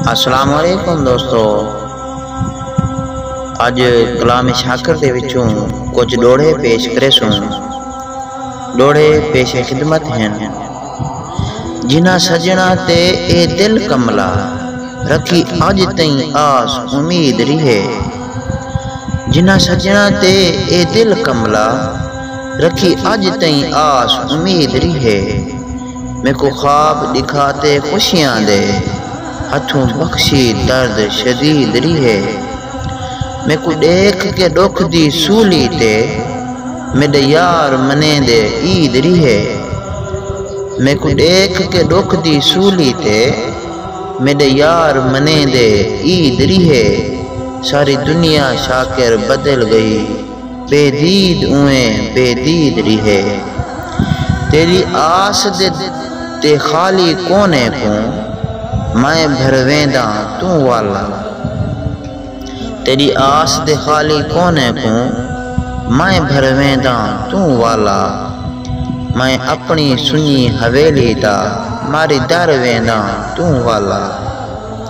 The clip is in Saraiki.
السلام علیکم دوستو اج کلام شاکر دے وچوں کچھ ڈوڑے پیش کرے سوں ڈوڑے پیش خدمت ہیں جنہ سجنا تے اے دل کملا رکھی اج تئیں آس امید ریہے جنہ سجنا تے اے دل کملا رکھی اج تئیں آس امید ریہے میکوں خواب ݙکھا تے خوشیاں دے ہتھوں بخشی درد شدید ریہے میکوں ݙیکھ کے ݙکھ دی سولی تے میݙے یار منیندے عید ریہے میکوں ݙیکھ کے ݙکھ دی سولی تے میݙے یار منیندے عید ریہے ساری دنیا شاکر بدل ڳئی۔ بے دید اونویں بے دید ریہے۔ تیݙی آس دے تے خالی کونے کوں میں بھروینداں توں والا۔ تیݙی آس دے خالی کونے کوں میں بھروینداں توں والا۔ میں اپݨی سنڄی حویلی دا ماری در وینداں توں والا۔